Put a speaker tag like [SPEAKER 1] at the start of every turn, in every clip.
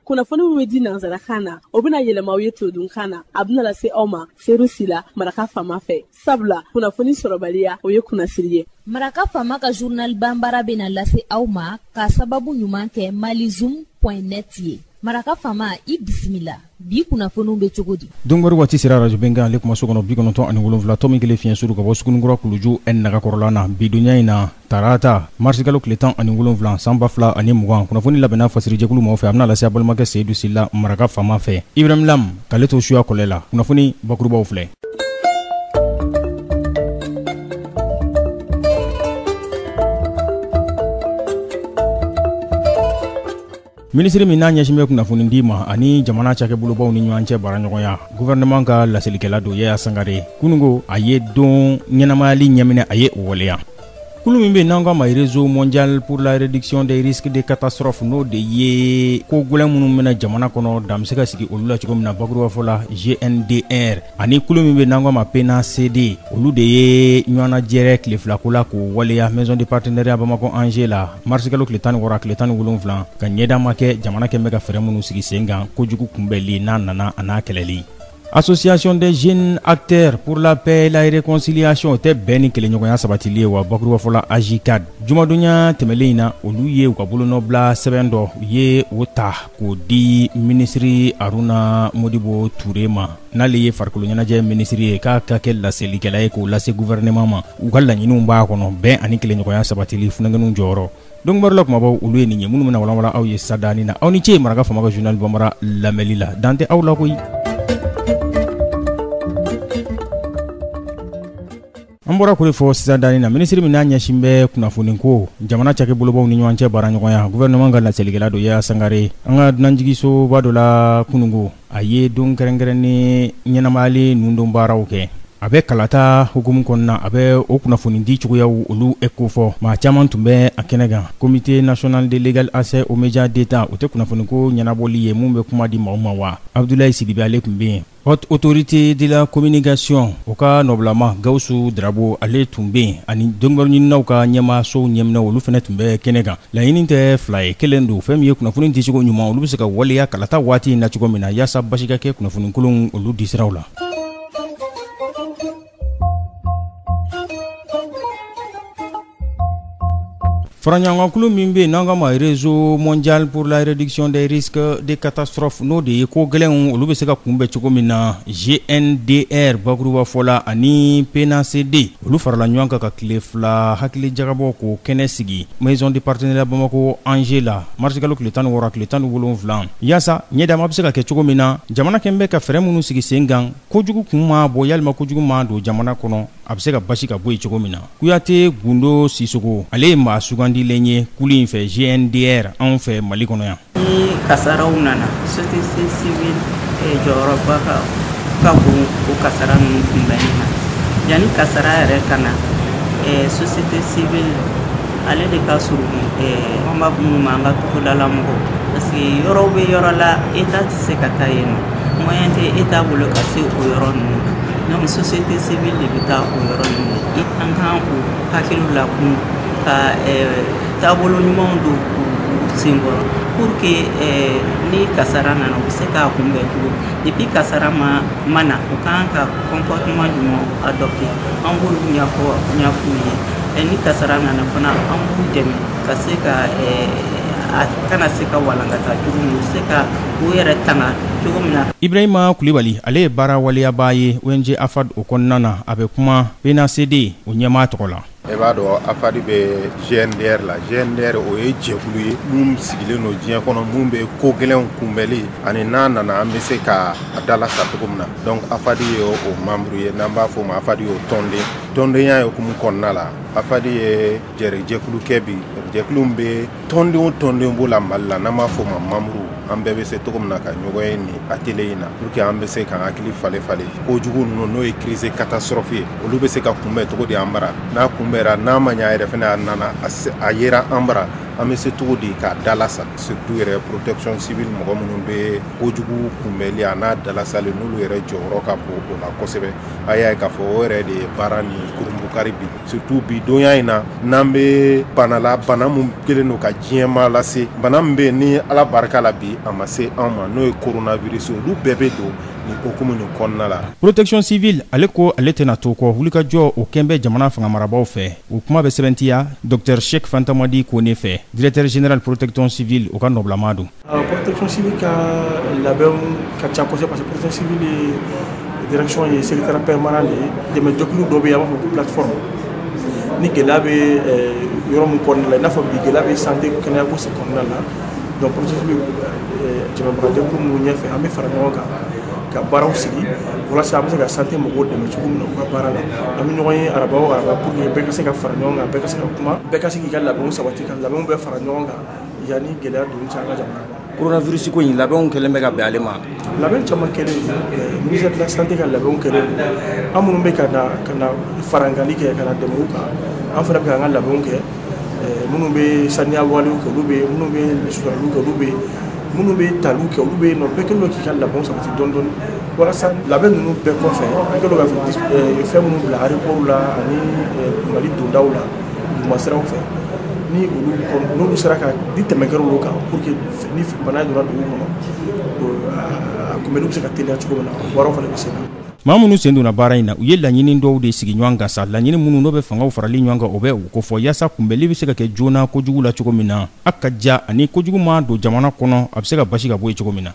[SPEAKER 1] kunnafoni min bɛ di nanzarakan na o bɛna yɛlɛma aw ye todunkan na a bɛna lase aw ma seyidu sila maraka fama fɛ sabula kunnafoni sɔrɔbaliya o ye kunnasiri ye maraka fama
[SPEAKER 2] ka journal banbara bɛna lase aw ma ka sababu ɲuman kɛ malizum point net ye maraka fama i bisimila bi kunnafoniw bɛ cogo di donkibaru waati sera
[SPEAKER 3] arajo bɛnkan ale kuma so kɔnɔ bi kɔnɔntɔn ani wolonwula tɔmi kelen fiɲɛ suru ka bɔ sugunikura kuluju n nagakɔrɔla na bi donya in na tarata marisikalo tile tan ani wolonwula san ba fila ani mugan kunnafoni labɛnna fasirijɛkulu mɔgɔ fɛ a bɛna lase a balimakɛ seyidu sila maraka faama fɛ ibrahim lam k'ale to suya kɔlɛ la kunnafoni bakurubaw filɛ minisiri min n'a ɲɛsin bɛ kunnafoni di ma ani jamana cakɛbolobaw ni ɲɔgɔn cɛ baaraɲɔgɔnya guvɛrɛnɛman ka laselikɛla don yaya sangare kunungo a ye don ɲɛnamayali ɲɛminɛ a ye o waleya kulu min bɛ n'an k'a ma réseau mondial pour la réduction des risques de catastrophe n'o de ye ko gɛlɛn minnu bɛ na jamana kɔnɔ dan bɛ se ka sigi olu la cogo min na bakurubafɔ la gndr ani kulu min bɛ n'an k'a ma pnacd olu de ye ɲɔgɔnnajɛrɛ tile filako la k'o waleya maison de partenariat bamakɔ angers la marisikalo tile tan ni wɔɔrɔ a tile tan ni wolonwula ka ɲɛda ma kɛ jamana kɛlen bɛ ka fɛɛrɛ minnu sigi sen kan kojugu kunbɛnli n'a nana a n'a kɛlɛli association des jeunes acteurs pour la paix et la réconciliation o tɛ bɛn ni kelenɲɔgɔnya sabatili ye wa bakuruba fɔ la ajcad jumadonya tɛmɛlen in na olu ye u ka bolonɔbila sɛbɛn dɔ u ye o ta k'o di minisiri Aruna Modibo Ture ma n'ale ye farikolo ɲɛnajɛ minisiri ye k'a ka kɛ laselikɛla ye k'o lase gouvernement ma u ka laɲiniw b'a kɔnɔ bɛn ani kelenɲɔgɔnya sabatili funankɛninw jɔyɔrɔ donc baro la kumabaw olu ye nin ye minnu bɛna walanwalan aw ye sa danni na aw ni ce maraka fama ka journal banbara lamɛli la dan tɛ aw la koyi an bɔra k'o de fɔ sisan danni na minisiri min n'a ɲɛsin bɛ kunnafoni ko jamana cakɛbolobaw ni ɲɔgɔn cɛ baaraɲɔgɔnya gouvernement ka laselikɛla don yaya sangare an ka dunanjiginsoba dɔ la kunungo a ye don kɛrɛnkɛrɛnnen ɲɛnamayali nundon baaraw kɛ a bɛ kalata hukumu kɔnɔna a bɛ o kunnafoni di cogoyaw olu kofɔ maa caman tun bɛ a kɛnɛ kan comité national de l'égal accès aux médias d'Etat o tɛ kunnafoniko ɲɛnabɔli ye min bɛ kuma di maaw ma wa abudulayi sidibe ale tun bɛ yen Haute autorité de la communication o ka nɔbilama Gawusu Darabo ale tun bɛ yen ani donkibaru ɲininaw ka ɲɛmaasow ɲɛminɛw olu fana tun bɛ kɛnɛ kan. Laɲini tɛ fila ye, kelen don. Fɛn min ye kunnafoni dicogo ɲuman olu bɛ se ka waleya kalata waati in na cogo min na, yasa basigi ka kɛ kunnafoni kolonw olu disiraw la. Faraɲɔgɔnkulu min bɛ yen n'an k'a ma réseau mondial pour la réduction des risques de catastrophes n'o de ye ko gɛlɛnw olu bɛ se ka kunbɛn cogo min na gndr bakurubafɔ la ani pnacd olu farala ɲɔgɔn kan ka tile fila hakili jagabɔ k'o kɛnɛ sigi maison de partenariat bamakɔ angers la marisikalo tile tan ni wɔɔrɔ tile tan ni wolonwula yaasa ɲɛ dama bɛ se ka kɛ cogo min na jamana kɛn bɛ ka fɛɛrɛ minnu sigi sen kan kojugu kun ma bɔ yalima kojugu ma don jamana kɔnɔ a bɛ se ka basi ka bɔ yen cogo min na kuyate gundo sisogo ale ye maa sugandilen ye kulu in fɛ gndr anw fɛ mali kɔnɔ yan ni kasaraw
[SPEAKER 4] nana société civile eh, jɔyɔrɔba ka ka bon o kasara ninnu kunbɛnni na yanni kasara yɛrɛ ka na eh, société civile ale de ka surun eh, an b'a fɔ minnu ma an ka togodala mɔgɔw parce que yɔrɔw bɛ yɔrɔ la état tɛ se ka taa yen nɔ Moyen tɛ état bolo ka se o yɔrɔ ninnu na donc société civile de bɛ taa o yɔrɔ ninnu na i an kan k'u hakiliw lakun ka euh, taabolo ɲumanw don u senkɔrɔ pour que euh, ni kasara nana u bɛ se k'a kunbɛn cogo depuis kasara ma na u kan ka comportement ɲuman adopter an b'olu ɲɛf'u ye euh, ni kasara nana fana an b'u dɛmɛ ka se ka a kana se ka walankata cogo min u se ka Ibrahima kulubali
[SPEAKER 3] ale ye baara waleyabaa ye ong afad o kɔnɔna na a bɛ kuma pnacd o ɲɛmaa tɔgɔ la e b'a dɔn afad
[SPEAKER 5] bɛ gndr la gndr o ye jɛkulu ye min sigilen don diɲɛ kɔnɔ minnu bɛ ko gɛlɛn kunbɛnli ani n'a nana an bɛ se ka a dalasa cogo min na donc afad ye o membre ye n'an b'a fɔ ma afad ye o tɔnden tɔndenya ye hukumu kɔnɔna la afad ye jɛrɛ jɛkulu kɛ bi jɛkulu bɛ tɔnden o tɔnden b'o la mali la n'an b'a fɔ ma membre an bɛɛ bɛ se cogo min na ka ɲɔgɔn ye nin atelier in na pour que an bɛ se k'an hakili falen falen kojugu ninnu n'o ye crise catastrophe ye olu bɛ se ka kunbɛn cogo di an bara n'a kunbɛra n'a ma ɲa yɛrɛ fɛnɛ a nana a yera an bara an bɛ se cogo di k'a dalasa surtout yɛrɛ protection civile mɔgɔ minnu bɛ kojugu kunbɛli a n'a dalasali n'olu yɛrɛ jɔyɔrɔ ka bon o la kosɛbɛ a y'a ye k'a fɔ o yɛrɛ de ye baara nin kurunbukari bi surtout bi donya in na n'an bɛ banala bana min kelen don ka diɲɛma lase bana min bɛ yen ni ala barika la bi a ma se anw ma n'o ye coronavirus olu bɛɛ bɛ don nin hukumu nin kɔnɔna la protection
[SPEAKER 3] civile ale ko ale tɛna to kɔ wulikajɔ o kɛn bɛ jamana fanga marabaaw fɛ o kuma bɛ sɛbɛntiya docteur sheik fantamadi kone fɛ directeur général protection civile o ka nɔbilama don Euh, protection civile ka
[SPEAKER 6] labɛnw ka ca kosɛbɛ parce que protection civile ye direction ye secrétaire permanent de ye dɛmɛ jɛkulu dɔ bɛ yen an b'a fɔ ko plateforme ni gɛlɛya bɛ euh, yɔrɔ min kɔnɔna la i n'a fɔ bi gɛlɛya bɛ santé kɛnɛyako se kɔnɔna la donc protection civile euh, jamabaga jɛkulu minnu ɲɛfɛ an bɛ fara ɲɔgɔn kan ka baaraw sigi walasa an bɛ se ka santé mɔgɔw dɛmɛ cogo min na u ka baara la an bɛ ɲɔgɔn ye araba o araba pour que bɛɛ ka se ka fara ɲɔgɔn kan bɛɛ ka se ka kuma bɛɛ ka se k'i ka labɛnw sabati ka labɛnw bɛɛ fara ɲɔgɔn kan Yanni gɛlɛya donni cɛ an ka jamana kɔnɔ coronavirus ko in
[SPEAKER 7] labɛnw kɛlen bɛ ka bɛn ale ma labɛn caman
[SPEAKER 6] kɛlen ministère de la santé ka labɛnw kɛlen an minnu bɛ ka na farankanli kɛ ka dɛmɛ kan an fana bɛ an ka labɛnw kɛ minnu bɛ saniya walew kɛ olu bɛ yen minnu bɛ suturali kɛ olu bɛ yen minnu bɛ tali kɛ olu bɛ yen nɔ bɛɛ kɛlen don k'i ka labɛn sabati dɔɔni dɔɔni walasa labɛn ninnu bɛɛ kɔfɛ an kɛlen don ka fɛn minnu bila aéroport la ani mali dondaw la ma siraw fɛ ni olu sera ka di tɛmɛ kɛra olu kan pour que ni bana donna dugu kɔnɔ a kunbɛnni bɛ se ka teliya cogo min na baaraw fana bɛ se ka maa minnu sen donna
[SPEAKER 3] baara in na u ye laɲini dɔw de sigi ɲɔgɔn kan sa laɲini minnu n'o bɛ fangaw farali ɲɔgɔn kan o bɛ o kofɔ yaasa kunbɛnli bɛ se ka kɛ joona kojugu la cogo min na a ka ja ani kojugu ma don jamana kɔnɔ a bɛ se ka basi ka bɔ yen cogo min na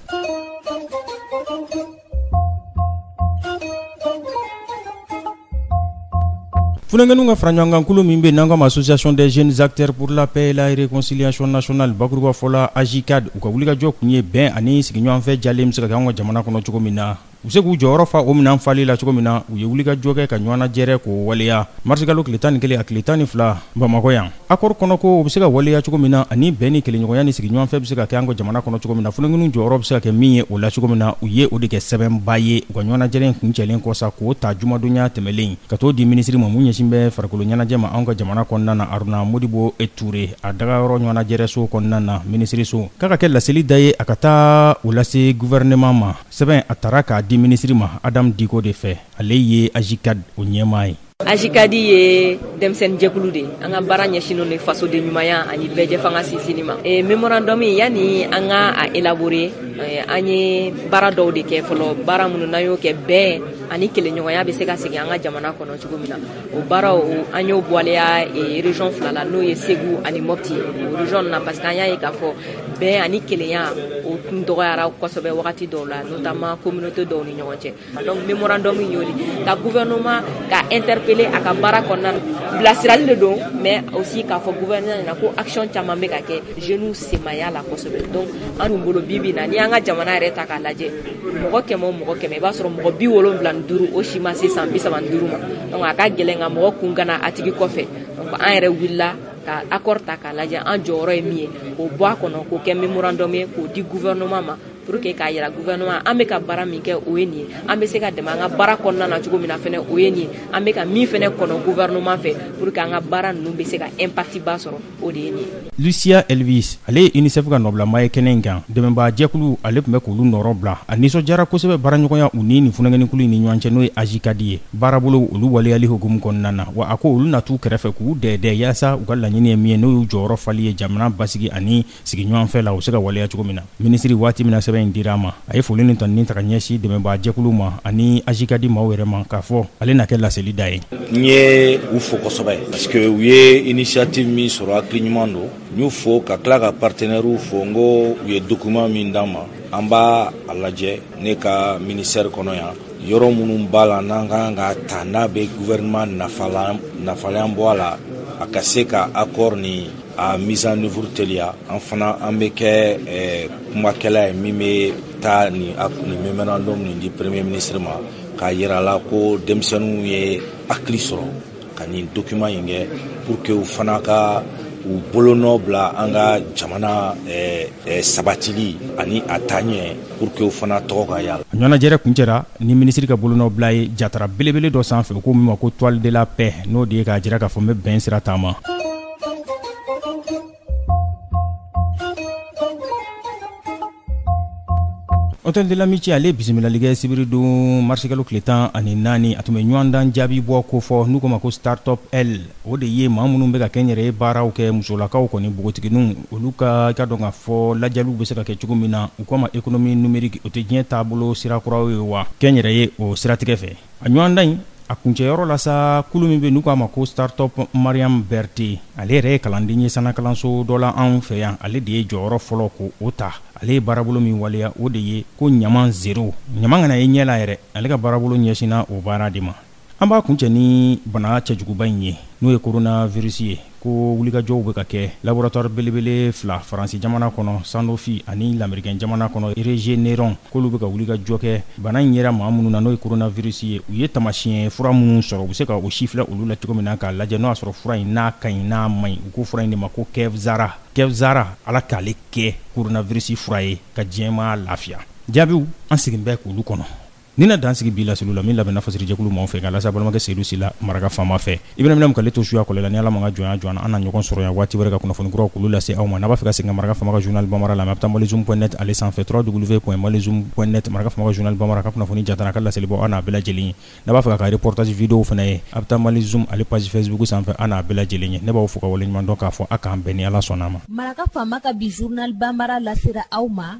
[SPEAKER 3] Funankɛninw ka faraɲɔgɔnkankulu min bɛ n'an kama ma association des jeunes acteurs pour la paix et la réconciliation nationale bakuruba fɔ la AJCAD u ka wulikajɔ kun ye bɛn ani sigiɲɔgɔnfɛ jalen bɛ se ka kɛ an ka jamana kɔnɔ cogo min na u se k'u jɔyɔrɔ fa o minɛn fali la cogo min na u ye wulikajɔ kɛ ka ɲɔgɔnnajɛrɛ k'o waleya marisikalo tile tan ni kelen a tile tan ni fila Bamakɔ yan Accord kɔnɔ ko o bɛ se ka waleya cogo min na ani bɛn ni kelenɲɔgɔnya ni sigiɲɔgɔnfɛ bɛ se ka kɛ an ka jamana kɔnɔ cogo min na, funankɛninw jɔyɔrɔ bɛ se ka kɛ min ye o la cogo min na, u ye o de kɛ sɛbɛnba ye u ka ɲɔgɔnnajɛrɛ in kuncɛlen kɔ sa, k'o ta jumadonya tɛmɛlen, ka t'o di minisiri ma min ɲɛsin bɛ farikoloɲɛnajɛ ma anw ka jamana kɔnɔna na, Aruna Modibo Ture, a dagayɔrɔ ɲɔgɔnnajɛrɛso kɔnɔna na, minisiriso. K'a ka kɛ laseli da ye a ka taa o lase gouvernement ma. Sɛbɛn a tara k'a di minisiri ma Adam Dicko de fɛ, ale ye AJCAD o ɲɛmaa ye. AJCAD
[SPEAKER 8] ye denmisɛnnin jɛkulu de an ka baara ɲɛsinnen de fasoden ɲumanya ani bɛɛjɛfanga sinsinni ma e, mémorandum yani an ka a élaborer e, an ye baara dɔw de kɛ fɔlɔ baara minnu n'an y'o kɛ bɛn ani kelenɲɔgɔnya bɛ se ka segin an ka jamana kɔnɔ cogo min na o baaraw an y'o waleya e, région fila la n'o ye Segu ani Mɔpti o région na parce que an y'a ye k'a fɔ bɛn ani kelenya o tun dɔgɔyara kosɛbɛ wagati dɔw la notamment communauté dɔw ni ɲɔgɔn cɛ donc memorandum in y'o de ka gouvernement ka interpeller a ka baara kɔnɔna na bilasirali de don mais aussi k'a fɔ gouvernement ɲɛna ko action caman bɛ ka kɛ jeunes sen ma y'a la kosɛbɛ donc an dun bolo bi bi na n'i y'an ka jamana yɛrɛ ta k'a lajɛ mɔgɔ kɛmɛ o mɔgɔ kɛmɛ i b'a sɔrɔ mɔgɔ bi wolonwula ni duuru o si ma se san bi saba ni duuru ma donc a ka gɛlɛn ka mɔgɔ kun kan a tigi kɔfɛ donc an yɛrɛ wulila ka accord ta k'a lajɛ an jɔyɔrɔ ye min ye k'o bɔ a kɔnɔ k'o kɛ memorandum ye k'o di gouvernement ma pour que k'a yira gouvernement an bɛ ka baara min kɛ o ye nin ye an bɛ se ka dɛmɛ an ka baara kɔnɔna na cogo min na fɛnɛ o ye nin ye an bɛ ka min fɛnɛ kɔnɔ gouvernement fɛ pour que an ka baara ninnu bɛ se ka impact ba sɔrɔ o de ye nin ye. lucia elvis
[SPEAKER 3] ale ye unicef ka nɔbilama ye kɛnɛ in kan dɛmɛbaa jɛkulu ale tun bɛ k'olu nɔrɔ bila a nisɔndiyara kosɛbɛ baaraɲɔgɔnya u ni nin funankɛninkulu in ni ɲɔgɔn cɛ n'o ye ajcad ye baarabolow olu waleyali hukumu kɔnɔna na wa a ko olu na t'u kɛrɛfɛ k'u dɛɛdɛ yaasa u ka laɲini ye min ye n'o y'u jɔyɔrɔ fali ye jamana basigi ani sigiɲɔgɔnfɛ la u se ka waleya cogo min na minisiri waati min na sɛbɛn in dira a ma a ye foli ni tanuni ta ka ɲɛsin dɛmɛbaa jɛkuluw ma ani ajcad maaw yɛrɛ ma k'a fɔ ale na kɛ laseli da ye n ye u
[SPEAKER 9] fo kosɛbɛ parce que u ye initiative min sɔrɔ hakili ɲuman don n y'u fo ka tila ka partenaires fo n ko u ye document min d'an ma an b'a a lajɛ ne ka ministère kɔnɔ yan yɔrɔ minnu b'a la n'an ka kan k'a ta n'a bɛ gouvernement nafa la yan bɔ a la a ka se ka accord ni a mise en œuvre teliya an fana an bɛ kɛ eh, kumakɛla ye min bɛ taa nin nin memorandum nin di premier ministre ma k'a yir'a la ko denmisɛnninw ye hakili sɔrɔ ka nin document in kɛ pour que u fana ka u bolonɔ bila an ka jamana eh, eh, sabatili ani a taaɲɛ pour que u fana tɔgɔ ka y'a la a ɲɔgɔnnajɛrɛ kuncɛra
[SPEAKER 3] ni minisiri ka bolonɔ bila ye jatara belebele dɔ sanfɛ u ko min ma ko toile de la paix n'o de ye k'a jira k'a fɔ n bɛ bɛn sira taama hôtel de l'amitié ale bisimilali kɛ sibiri don marisikalo tile tan ani naani a tun bɛ ɲɔgɔndan jaabi bɔ ko fɔ n'u k'o ma ko startup l o de ye maa minnu bɛ ka kɛnyɛrɛye baaraw kɛ musolakaw kɔni npogotigininw olu ka k'a dɔn k'a fɔ lajɛliw bɛ se ka kɛ cogo min na u k'a ma économie numérique o tɛ diɲɛ taabolo sirakuraw ye wa kɛnyɛrɛye o siratigɛ fɛ a ɲɔgɔndan in a kuncɛyɔrɔ la sa kulu min bɛ n'u k'a ma ko startup mariam berthe ale yɛrɛ ye kalanden ye sannakalanso dɔ la anw fɛ yan ale de ye jɔyɔrɔ fɔlɔ ko o ta ale ye baarabolo min waleya o de ye ko ɲaman zero ɲaman kana ye ɲɛ la yɛrɛ ale ka baarabolo ɲɛsinna o baara de ma an b'a kuncɛ ni bana cɛjuguba in ye n'o ye coronavirus ye ko wulikajɔw bɛ ka kɛ laboratwari belebele fila faransi jamana kɔnɔ sanofi ani lamerikɛn jamana kɔnɔ regeneron k'olu bɛ ka wulikajɔ kɛ bana in yera maa minnu na n'o ye koronavirisi ye u ye taamasiɲɛ fura minnu sɔrɔ u bɛ se ka o sifilɛ olu la cogo min na k'a lajɛ n'o y'a sɔrɔ fura in n'a ka ɲi n'a man ɲi u ko fura in de ma ko kevzara kevzara ala k'ale kɛ koronavirisi fura ye ka diɲɛmaa lafiya jaabiw an sigilen bɛ k'olu kɔnɔ Nin na dan sigi bi laseliw la min labɛnna fasirijɛkulu maaw fɛ k'a lase balimakɛ Seyidu Sila maraka faama fɛ. I bɛna minɛ k'ale to suya kɔlɛ la ni Ala m'a ka jɔnya jɔ an na, an na ɲɔgɔn sɔrɔ yan waati wɛrɛ ka kunnafoni kuraw k'olu lase aw ma. N'a b'a fɛ ka segin ka maraka faama ka journal Bamara lamɛn, a bɛ taa malizoom point net ale sanfɛ www.malizoom.net maraka faama ka journal Bamara a ka kunnafoni jantan n'a ka laselibaw a n'a bɛɛ lajɛlen ye. N'a b'a fɛ k'a ka reportage videos fana ye, a bɛ taa malizoom ale page facebook sanfɛ a n'a bɛɛ lajɛlen ye. Ne b'aw fo k'aw waleɲumandɔn k'a fɔ a k'an bɛn ni Ala sɔnn'a ma. Maraka faama ka bi
[SPEAKER 2] journal Bamara lasera aw ma.